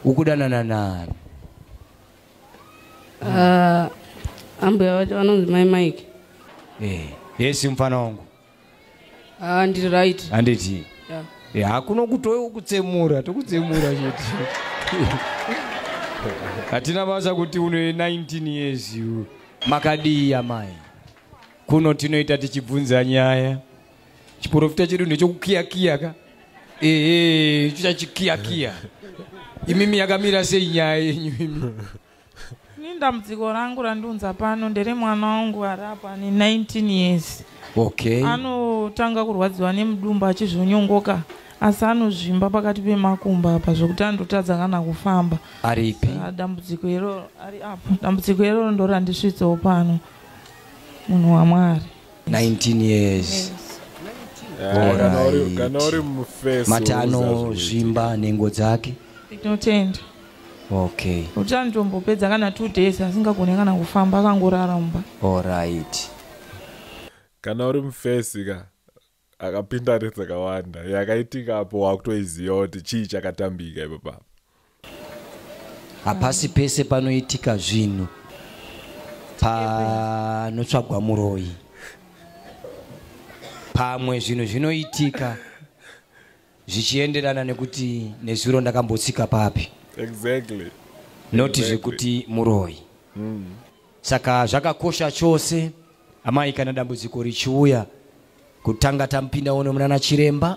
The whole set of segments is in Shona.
ukudanana nani ah, ambuya vacho vanonzi mai mike eh, yesi mfana wangu ah, ndiri right handiti eh, hakuna kutokutsemura tokutsemura chete hatina basa kuti une 19 years makadii amai kuno tinoita tichibvunza nyaya chiporofita chedu ndechokukiyakiya ka ehe chichachikiyakiya imimi yakamira sei nyaya yenyu imi ni ndambudziko rangu randiunza pano ndere mwana wangu ari apa ane 19 years okay anotanga kurwadziwa nemudumbu achizvonyongoka asi anozvimba pakati pemakumba apa zvokuti andotadza kana kufamba aripi dambudziko iroro ari apo dambudziko iroro ndorandisvitsawo pano munhu wamwari 19 years mati anozvimba nhengo dzake tinotenda okay kuti anotombopedza kana two days asingagone kana kufamba akangorara mumba allright kana uri mufesi ka akapinda redzakawanda yakaitika apo wakutoiziva kuti chii chakatambika ipapapa hapasi pese panoitika zvinhu panotsvagwa muroyi pamwe zvinhu zvinoitika zvichienderana nekuti nezuro ndakambotsika papi exactly not zvekuti exactly. muroyi mm. saka zvakakosha chose amai kana dambudziko richiuya kutanga tamupinda uno munana chiremba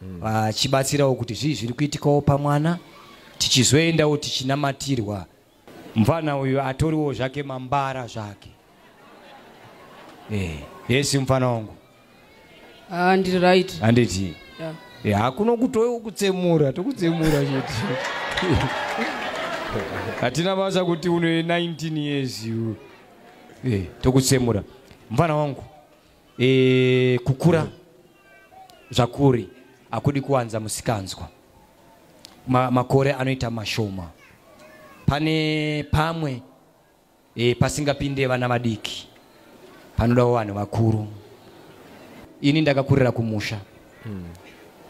mm. vachibatsirawo kuti zvii zviri kuitikawo pamwana tichizoendawo tichinamatirwa mfana uyu atoriwo zvake mambara zvake eh, yesi mfana wangu Ah, ndiri right. Handiti? Yeah. Yeah, hakuna kutoyo kutsemura, tokutsemura chete. Hatina basa kuti une 19 years you. Eh, tokutsemura. Mvana wangu. Eh, kukura zvakuri akudi kuwanza musikanzwa. Ma, makore anoita mashoma. Pane pamwe e, pasingapinde vana vadiki panodawo vanhu vakuru ini ndakakurira kumusha mm.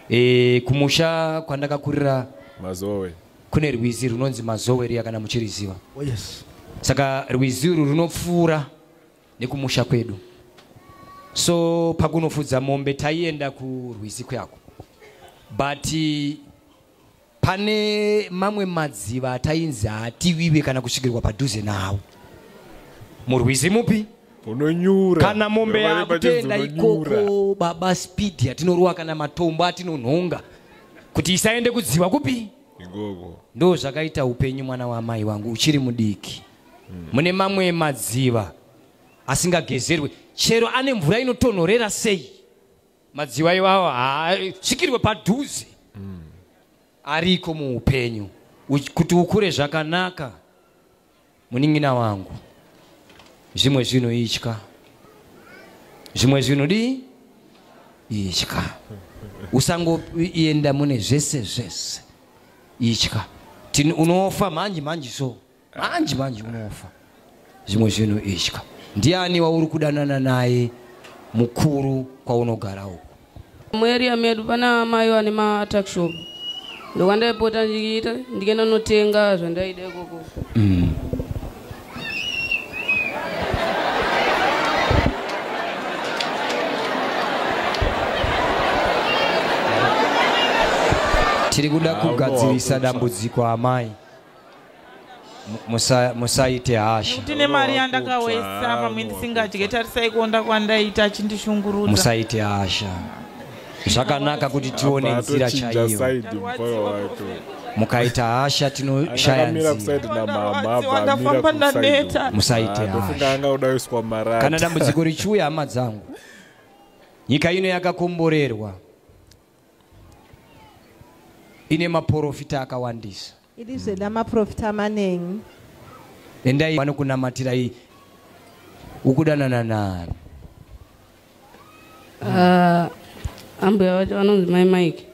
e, kumusha kwandakakurira mazowe kune rwizi runonzi mazowe riya kana muchiriziva oh, yes. saka rwizi uru runopfuura nekumusha kwedu so pakunofudza mombe taienda kurwizi kuyako but pane mamwe madziva atainzi haativive kana kusvikirwa padhuze nawo murwizi mupi unonyura kana mombe yakutenda ikoko baba speed yatinorova kana matombo atinonhonga kuti isaende kudziva kupi ikoko ndo zvakaita upenyu mwana waamai wangu uchiri mudiki hmm. mune mamwe madziva asingagezerwe chero ane mvura inotonhorera sei madziwa iwawo haasvikirwe padhuze mm. ariko muupenyu kuti ukure zvakanaka munin'ina wangu zvimwe zvinhu itya zvimwe zvinhu dii itya usangoenda mune zvese zvese itya unofa manje manje so manje manje unofa zvimwe zvinhu itya ndiani wauri kudanana naye mukuru kwaunogara uku mueria medu pana amai vane matakshop ndokwandaipota ndichiita ndikenda notenga zvandaida ikoko mm. tiri kuda kugadzirisa dambudziko amai musaite hasha tine mari yandakawesa pamwe ndisingadye tarisai kuonda kwandaita achindishungurudza musaite hasha zvakanaka kuti tione nzira chaiyo mukaita hasha tinoshaya nzimusaite hashakana dambudziko richiuya hama dzangu nyika ino yakakomborerwa ine maporofita akawandisa iri zveda maporofita manengi endai vanokunamatirai ukudanana nani ah, ambuya vacho vanonzi mai mike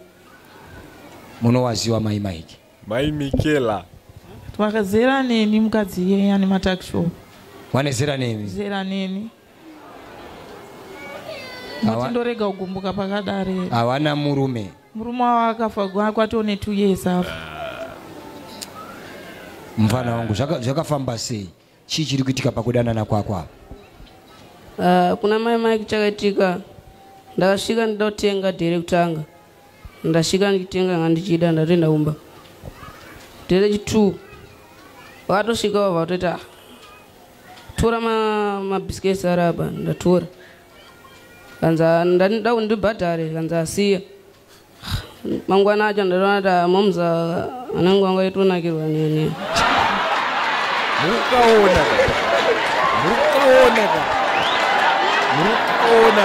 munowaziwa mai mike mai mikela twakazera neni mukadzi iyeye ane matakishow wane zera nemi zera neni moti ndorega kugumbuka pakadare hawana murume murume wavo akafa kwatoo netwo years afa ah. mfana wangu zvakafamba sei chii chiri kuitika pakudanana kwako apa ah, kuna mai mike chakaitika ndakasvika ndida kutenga dhere kutanga ndasvika ndikitenga nga ndichida ndatoenda kumba dhere chitwo vakatosvika vava vatoita tora mabiscuits ma araba ndatora kanza ndandida kuti ndibhadhare kanza asiya mangwana acho ndatoona kuti ah, moms anenge wanga itonakirwa nini mukaona mukaona mukaona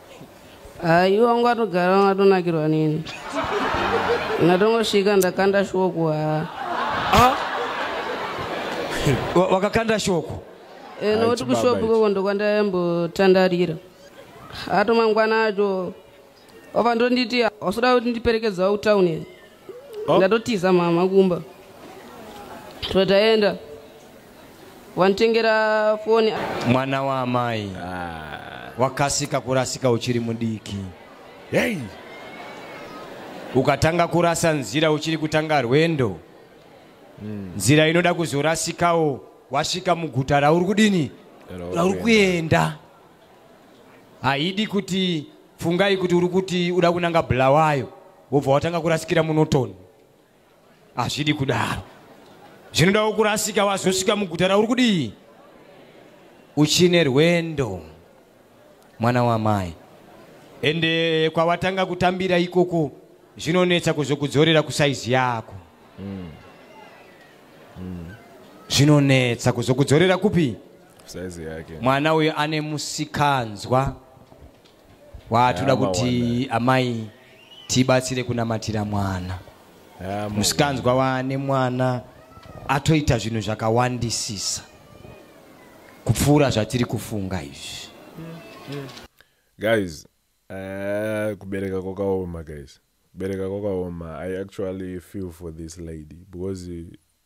hayi ah, wangu atogara wanga atonakirwa nini ndatongosvika ndakanda shoko haa ah. wakakanda shoko eh, nokuti kushopu koko ndokwandayambotandarira atomangwana acho wava ndonditi hausoda kuti ndiperekedzawo kutauni oh. ndatotiza mama kumba tataenda wanditengera foni mwana waamai ah. wakasika kurasika uchiri mudiki hey. ukatanga kurasa nzira uchiri kutanga rwendo mm. nzira inoda kuzorasikawo wasvika muguta rauri kudini rauri kuenda haidi kuti fungai kuti uri kuti uda kunanga bulawayo wobva watanga kurasikira munotoni hazvidi kudaro zvinodawo kurasika wazosvika muguta rauri kudii uchine rwendo mwana wamai ende kwawatanga kutambira ikoko zvinonetsa kuzokudzorera kusaizi yako mm. Mm. zvinonetsa kuzokudzorera kupi mwana uyo ane musikanzwa Waa toda kuti amai tibatsire kunamatira mwana. Musikanzwa waane mwana atoita zvinhu zvakawandisisa kupfuura zvatiri kufunga izvi. Guys, uh, kubereka kwakaoma guys. Kubereka kwakaoma. I actually feel for this lady because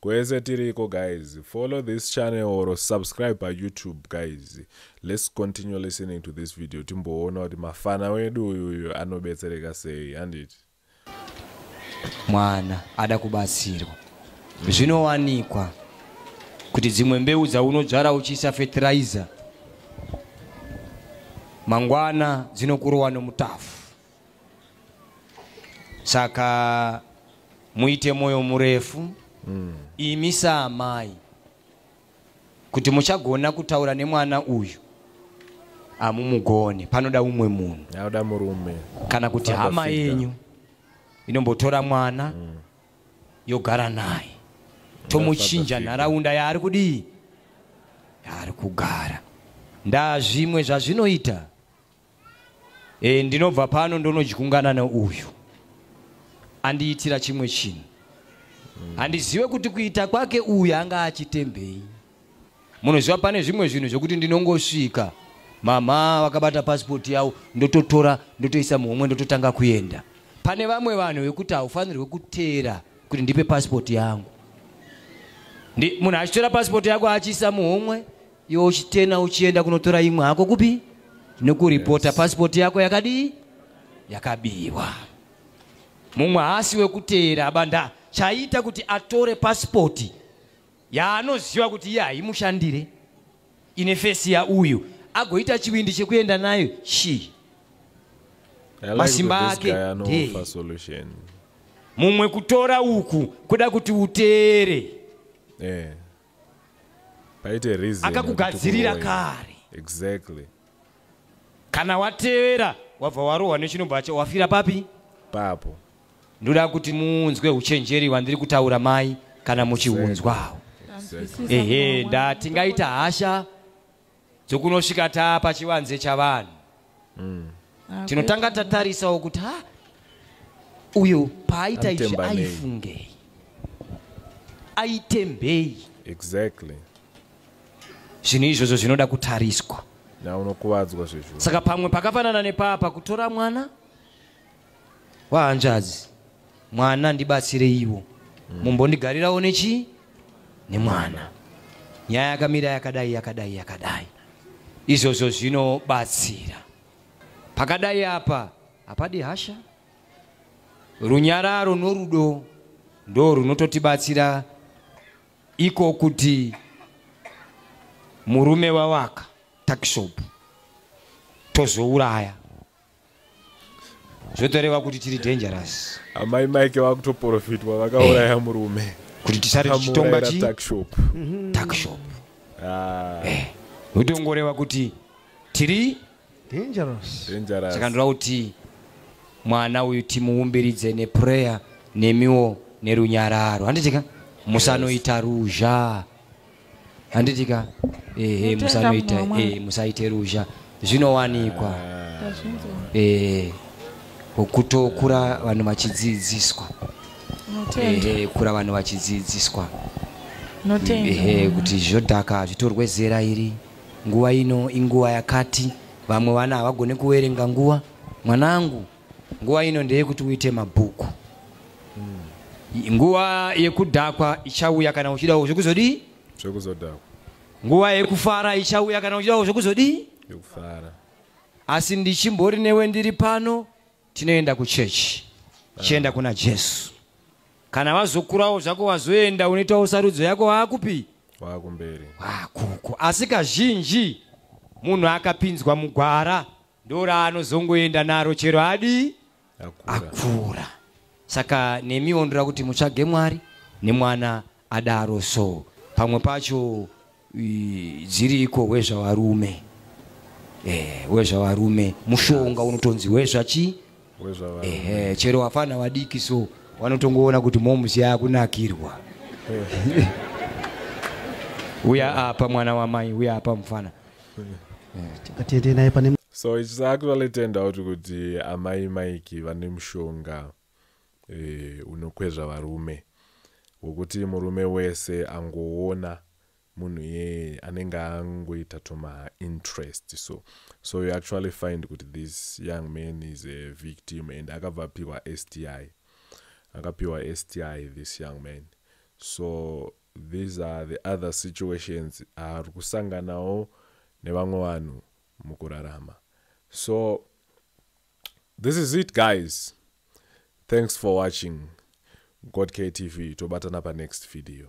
Kwese tiriko guys, follow this channel or subscribe pa YouTube guys. Let's continue listening to this video timboona kuti mafana wedu uyu uyu anobetsereka sei handiti. Mwana ada kubatsirwa. Zvinowanikwa kuti dzimwe mbeu dzaunodzvara uchiisa fertilizer mangwana dzinokurowa nomutafu. saka muite mwoyo murefu mm. imi saamai kuti muchagona kutaura nemwana uyu hamumugone panoda umwe munhu aoda murume kana kuti Fada hama yenyu inombotora mwana mm. yogara naye tomuchinja nharaunda yaari kudii yaari kugara ndaa zvimwe zvazvinoita e, ndinobva pano ndonodyungana neuyu andiitira chimwe chinhu handizive kuti kuita kwake uyu anga achitembei munoziva pane zvimwe zvinhu zvekuti ndinongosvika mama vakabata pasipoti yavo ndototora ndotoisa muhomwe ndototanga kuenda pane vamwe vanhu vekuti haufanirwe kuteera kuti ndipe pasipoti yangu munhu achitora pasipoti yako achiisa muhomwe iwe uchitena uchienda kunotora imwe hako kupi nekuripota yes. pasipoti yako yakadii yakabiwa mumwe haasi wekuteera abanda chaita kuti atore pasipoti yaanoziva kuti iye haimushandire ine fesi yauyu agoita chivindi chekuenda nayo shi masimba ake mumwe kutora uku kuda kuti uteere yeah. paite reason akakugadzirira kare exactly kana watevera wabva warohwa nechinobva cha wafira papi papo ndoda kuti muunzwe uchenjeri wandiri kutaura mai kana muchiunzwawo ehe ndatingaita hasha dzokunosvika taa pachivanze chavanhu mm. Ah, tinotanga tatarisawo kuti ha uyo paaita izvi aifungei aitembei exactly zvinhu izvozvo zvinoda kutariswa na unokuvadzwa zvezvo saka pamwe pakafanana nepapa kutora mwana vahanzvadzi mwana ndibatsireiwo mm. mumbondigarirawo nechii nemwana nyaya yakamira yakadai yakadai yakadai izvozvo zvinobatsira pakadai apa hapadi hasha runyararo norudo ndo runototibatsira iko kuti murume wawaka takishopu tozouraya zvotoreva kuti tiri dangerous amai mike vakutoprofitwa vakauraya murume kuti tisare tichitonga chi takshop mhm. takshop ah. eh. zvotongorewa kuti tiri dangerous dangerous saka ndoda kuti mwana uyu timuumbiridze neprayer nemiwo nerunyararo handitika musanoita ruzha handiti ka ehe musanoita eh musaite ruzha zvinowanikwa eh kutokura vanhu vachidzidziswa ehe kura vanhu vachidzidziswa ehe kuti zvodhaka zvitorwe zera iri nguva ino inguva yakati vamwe vana havagone kuverenga nguva mwanangu nguva ino ndeyekuti uite mabhuku hmm. nguva yekudhakwa ichauya kana uchidawo zvekuzodii zvekuzodhakwa nguva yekufara ichauya kana uchidawo zvekuzodii yekufara asi ndichimbori newe ndiri pano tinoenda kuchechi tichienda ah. kuna jesu kana vazokurawo zvako wazoenda unoitawo sarudzo yako waakupi waakumberi waakuko asi kazhinji munhu akapinzwa mugwara ndoraanozongoenda naro chero adii akura saka nemi ondoda kuti mutsvage mwari nemwana adaro so pamwe pacho dziri iko wezvavarume eh, wezvavarume mushonga unotonzi wezvachi eh, chero vafana vadiki so wanotongoona kuti momusi yakunakirwa eh. uya apa mwana wamai uya apa mufana atiende naye pane so it's actually turned out kuti amai mike vane mushonga eh, unokwezva varume wokuti murume wese angoona munhu iyeye anenge angoita tuma interest so so you actually find kuti this young man is a victim and akabva apiwa sti akapiwa sti this young man so These are the other situations aari kusanganawo nevamwe vanhu mukurarama so this is it guys thanks for watching godktv tobatana panext video